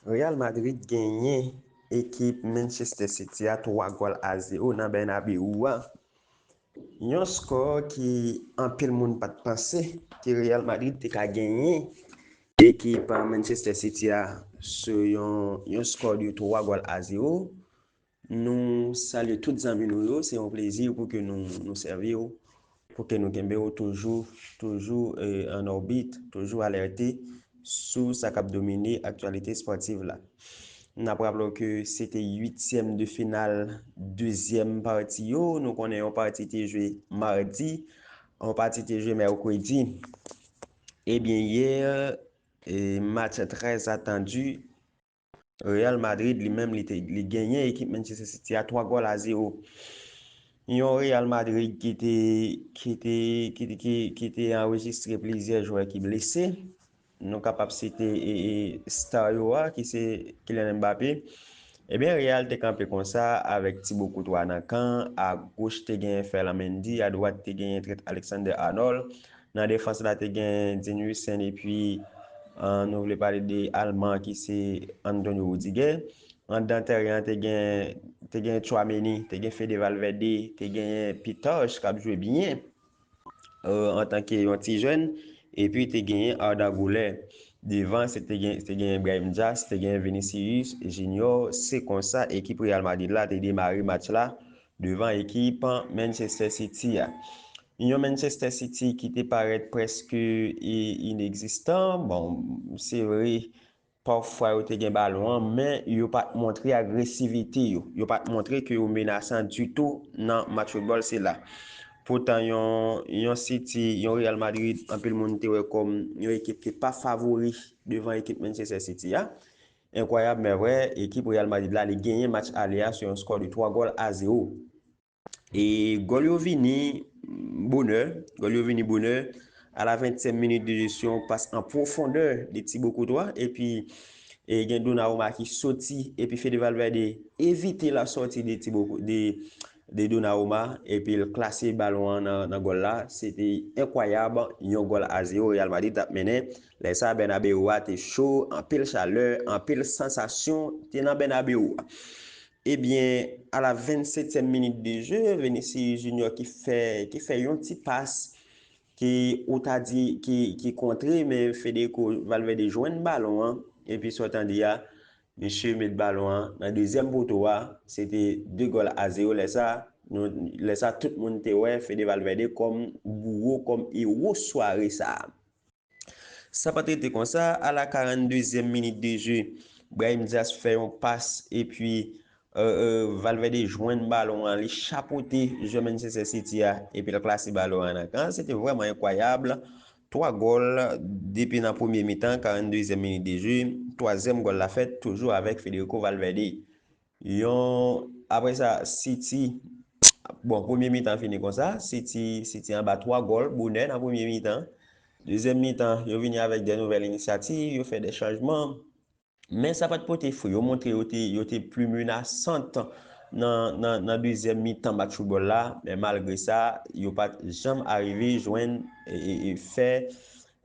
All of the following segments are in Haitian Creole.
Real Madrid genyen ekip Manchester City a 3 gòl a 0 nan Bernabeu a. Yon skò ki anpil moun pat panse ke Real Madrid te ka genyen ekip Manchester City a sou yon skò de 3 gòl a 0. Nou salye tout zanmi nou yo, se yon plezi pou ke nou nou sèvi w, pou ke nou kenbe w toujou, toujou an òbit, toujou alète sou sa k ap domine aktyalite espòtiv la. N ap raple w ke se te uityèm de final dezyèm pati yo, nou konnen yon pati te jwe madi, yon pati te jwe mèkredi. Ebyen yè, match trè atandi. Real Madrid li menm li te li genyen ekip Manchester City a 3 gòl a 0. Yon Real Madrid ki te ki te ki te ki, ki te anrejistre plizyè jwè ki blese. Nou kapab site e, e star yo a ki se Kylian Mbappé. Ebyen Real te kanpe konsa avèk Thibaut Courtois nan kan, a goch te genyen Ferland Mendy, a dwat te genyen trèt Alexander Arnold, Nan defans la te gen Dean Huijsen epi nou vle pale de alman an ki se Antonio Rudiger. Anndan tèren an te gen te gen Tchouameni, te gen Fede Valverde, te genyen Pitarch k ap jwe byen antanke yon ti jèn epi te genyen Arda Güler. Devan se te gen te genyen Brahim Diaz, te genyen Vinicius Junior. Se konsa ekip Real Madrid la te demare match la devan ekip Manchester City a. Yon Manchester City ki te parèt prèske inegzistan, bon, se vre, pafwa yo te gen balon an, men yo pa t montre agresivite yo, yo pa t montre ke yo menasan ditou nan match foutbòl sila. Poutan yon City, yon Real Madrid, anpil moun te wè kòm yon ekip ki pa favori devan ekip Manchester City a. Enkwayab men vrè, ekip Real Madrid la li genyen match ale a sou yon skò de 3 gòl a 0. E gòl yo vini bonè, gòl yo vini bonè a la 20 tièm minit de jeu sou yon pas an pwofondè de Thibaut Courtois epi e gen Donnarumma ki soti epi Fede Valverde evite la sòti de Thibaut de de Donnarumma epi l klase balon an nan gòl la, se te enkwayab, yon gòl a zewo Real Madrid t ap mennen, lè sa Bernabeu a te cho, anpil chalè, anpil sansasyon te nan Bernabeu a. Ebyen, a la 27 tièm minit de je, Vinicius Junior ki fè ki fè yon ti pas ke ou ta di ki kontre men Federico Valverde jwenn balon an, epi sa w tande a, Mesye met balon an nan dezyèm poto a, se te 2 gòl a 0 lè sa, nou lè sa tout moun te wè Fede Valverde kòm bouwo kòm ewo sware sa. Sa pat rete konsa, a la 42 zièm minit de je, Brahim Diaz fè yon pas epi Valverde jwenn balon an li chapote jwè Manchester City a epi l klase balon an nan kan, se te vrèman enkwayab, 3 gòl depi nan premye mitan 42 zièm minit de jeu, twazyèm gòl la fèt toujou avèk Federico Valverde. Yon aprè sa City bon premye mitan fini konsa City City anba 3 gòl bonè nan premye mitan. Dezyèm mitan yo vini avèk de nouvèl inisyativ, yo fè de chanjman. Men sa pat pote fri, yo montre yo te pli menasant nan dezyèm mitan match foutbòl la, men malgre sa, yo pat janm arive jwenn fè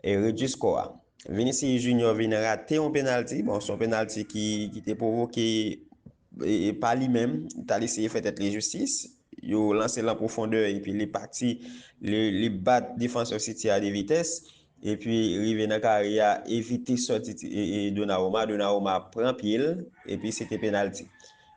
redui skò a. Vinicius Junior vin rate yon penalti, bon se yon penalti ki te pwovoke pa li menm, li t al eseye fè tèt li jistis, yo lanse l an pwofondè epi li pati, li bat defansè City a de vitès, epi rive nan kare a, evite sòti Donnarumma, Donnarumma pran pye l, epi se te penalti.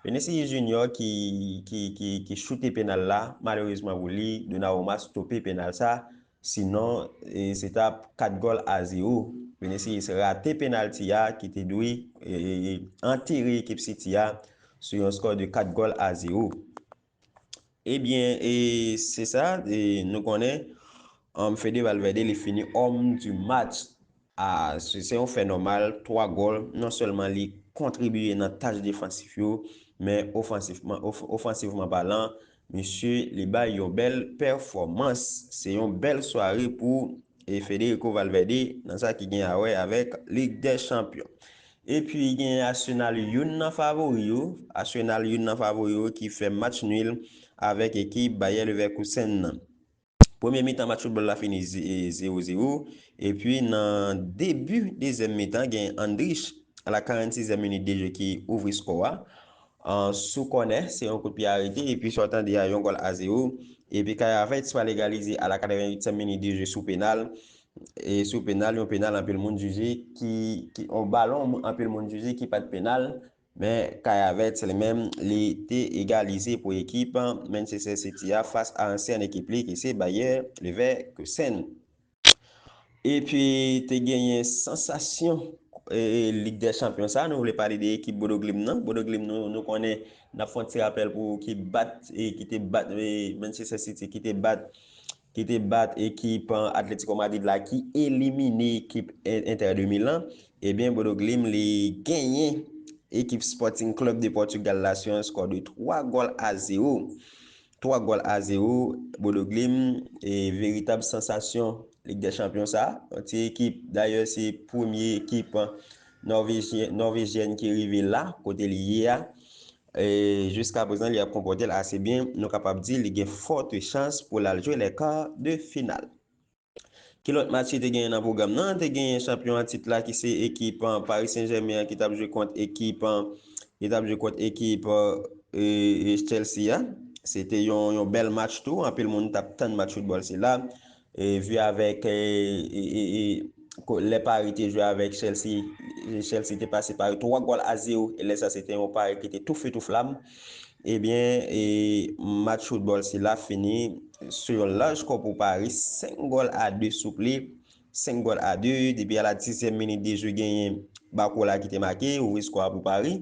Vinicius Junior ki choute penal la, malerezman pou li, Donnarumma stope penal sa. Sinon, se t ap 4 gòl a 0. Vinicius rate penalti a ki te dwe antere ekip City a sou yon skò de 4 gòl a 0. Ebyen, se sa, nou konnen Fede Valverde li fini Homme du match. Ah se yon fè nòmal 3 gòl non sèlman li kontribiye nan tach defansif yo men ofansivman palan misye li bay yon bèl pèfòmans. Se yon bèl sware pou Federico Valverde nan sa ki gen awè avèk Lig dè Chanpyon. Epi gen Arsenal youn nan favori yo Arsenal youn nan favori yo ki fè match nul avèk ekip Bayer Leverkusen nan. Premye mitan match foutbòl la fini zewo zewo epi nan debi dezyèm mitan gen Andrich a la 46 zièm minit de jeu ki ouvri skò a sou kònè se yon kout pye arete epi sa w tande a yon gòl a zewo epi Kayavets pral egalize a la 88 zièm minit de jeu sou penal yon penal anpil moun jije ki yon balon anpil moun jije ki pat penal Men Kayavets li menm li te egalize pou ekip Manchester City a fas a ansyen ekip li ki se Bayer Leverkusen. Epi te genyen sansasyon Lig dè Chanpyon sa, nou vle pale de ekip Bodo Glimt nan. Bodo Glimt nou konnen, n ap fè yon ti rapèl pou ou ki bat, ki te bat Manchester City, ki te bat ki te bat ekip Atletico Madrid la ki elimine ekip Inter de Milan, ebyen Bodo Glimt li genyen ekip Sporting Club de Portugal la sou yon skò de 3 gòl a 0. 3 gòl a 0, Bodo Glimt e veritab sansasyon Lig dè Chanpyon sa, yon ti ekip dayè se premye ekip Norvejyen ki rive la kote li ye a, E jiska prezan li ap konpòte l ase byen, nou kapab di li gen fòte chans pou l al jwe lè kar de final. Ki lòt match ki te genyen nan pwogram nan? Te genyen chanpyon an tit la ki se ekip Paris Saint Germain an ki tap jwe kont ekip ki tap jwe kont ekip Chelsea a. Se te yon bèl match tou, anpil moun tap tann match foutbòl sila. Vu avèk lè Paris te jwe avèk Chelsea, Chelsea te pase Paris 3 gòl a 0 e lè sa se te yon Paris ki te tou feu tou flam. Ebyen match foutbòl sila fini sou yon laj skò pou Paris 5 gòl a 2 souple, 5 gòl a 2 depi a la dizyèm minit de jwe genyen Barcola ki te make ouvri skò a pou Paris.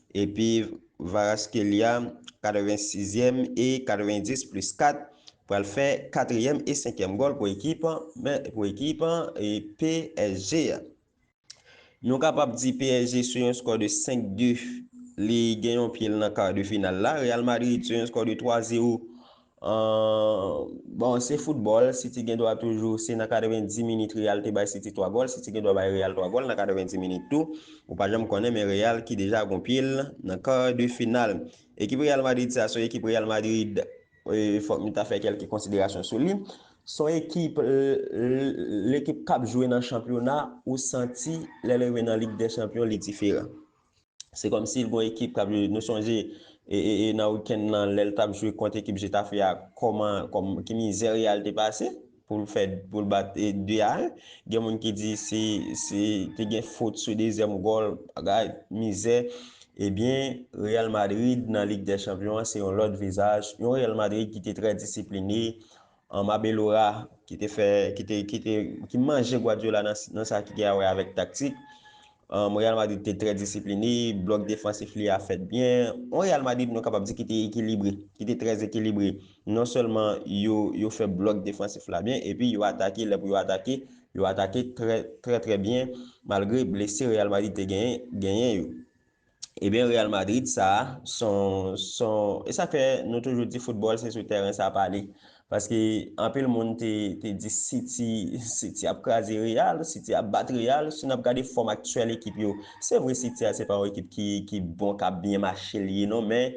Epi Kvaratskhelia, 86 ème e 90 plis 4, pral fè katriyèm e senkyèm gòl pou ekip pou ekip psg a. Nou kapab di psg sou yon skò de 5 de li gen yon pye l nan kar de final la. Real Madrid sou yon skò de 3 zero Ahh bon se foutbòl City gen dwa toujou se nan 90 minit Real te bay City 3 gòl City gen dwa bay Real 3 gòl nan 90 minit tou ou pa janm konnen men Real ki deja gon pye l nan kar de final ekip Real Madrid sa son ekip Real Madrid fòk nou ta fè kèlke konsiderasyon sou li son ekip l ekip k ap jwe nan chanpyona ou santi lè l rive nan lig dè chanpyon li diferan. Se kòm si gon ekip kap jwe nou sonje nan weekend lan lèl tap jwe kont ekip Getafe a kòman ki mizè Real te pase poul fè poul bat 2 a 1 gen moun ki di se te gen fot sou dezyèm gòl bagay mizè ebyen Real Madrid nan lig dè chanpyon an se yon lòt vizaj yon Real Madrid ki te trè disipline Anm Abelora ki te fè ki te ki te ki manje Guardiola nan nan sa ki gen a wè avèk taktik. Anm Real Madrid te trè disipline, blòk defansif li a fèt byen. On Real Madrid nou kapab di ki te ekilibre, ki te trè ekilibre. Non sèlman yo yo fè blòk defansif la byen epi yo atake lè pou yo atake, yo atake trè trè trè byen malgre blese Real Madrid te genyen genyen yo. Ebyen Real Madrid sa son son e sa fè nou toujou di foutbòl se sou tèren sa pale paske anpil moun te te di City City ap kraze Real City ap bat Real si nap gade fòm aktyèl ekip yo se vre City a se pa yon ekip ki ki bon kap byen mache li ye non men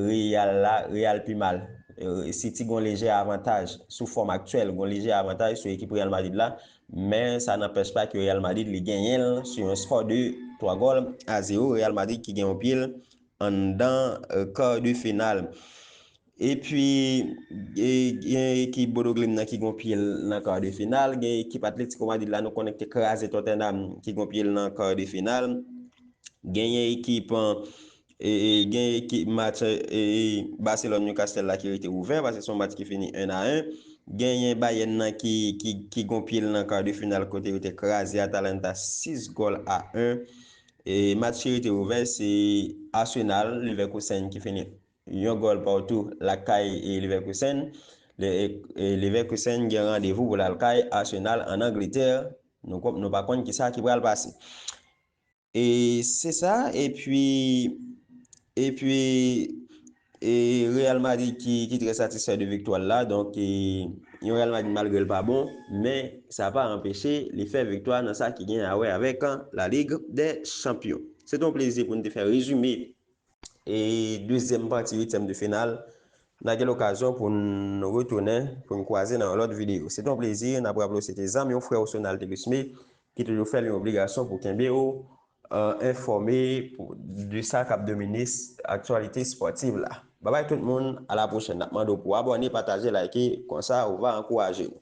Real la Real pi mal City gon lejè avantaj sou fòm aktyèl gon lejè avantaj sou ekip Real Madrid la Men sa nanpèch pa ke Real Madrid li genyen l sou yon skò de 3 gòl a 0, Real Madrid ki gen yon pye l anndan kar de final. Epi gen ekip Bodo Glimt nan ki gen yon pye l nan kar de final, gen ekip Atletico Madrid la nou konnen ki te kraze Tottenham ki gen yon pye l nan kar de final, genyen ekip Gen ekip match Barcelone Newcastle la ki rete ouvè paske son match ki fini 1 a 1. Genyen Bayern nan ki gon pye l nan kar de final kote yo te kraze Atalanta 6 gòl a 1. Match ki rete ouvè se Arsenal Leverkusen ki fini yon gòl partou lakay Leverkusen. Leverkusen gen randevou pou l al kay Arsenal an Angletè. Nou pa konn kisa ki pral pase. E se sa epi epi e Real Madrid ki ki trè satisfè de viktwa l la donk e yon Real Madrid malgre l pa bon men sa pa anpeche li fè viktwa nan sa ki gen a wè avèk La Ligue des Champions. Se te yon plezi pou n te fè rezime e dezyèm pati uityèm de final na gen lokazyon pou n retounen pou n kwaze nan yon lòt videyo. Se te yon plezi, n ap raple w se te zanmi w, frè w Sonal Thelusme Ki toujou fè li yon obligasyon pou kenbe ou enfòme de sa kap domine aktyalite spòtiv la. Babay tout moun, a la pwochèn. Nap mande w pou abòne, pataje, like, konsa ou va ankouraje nou.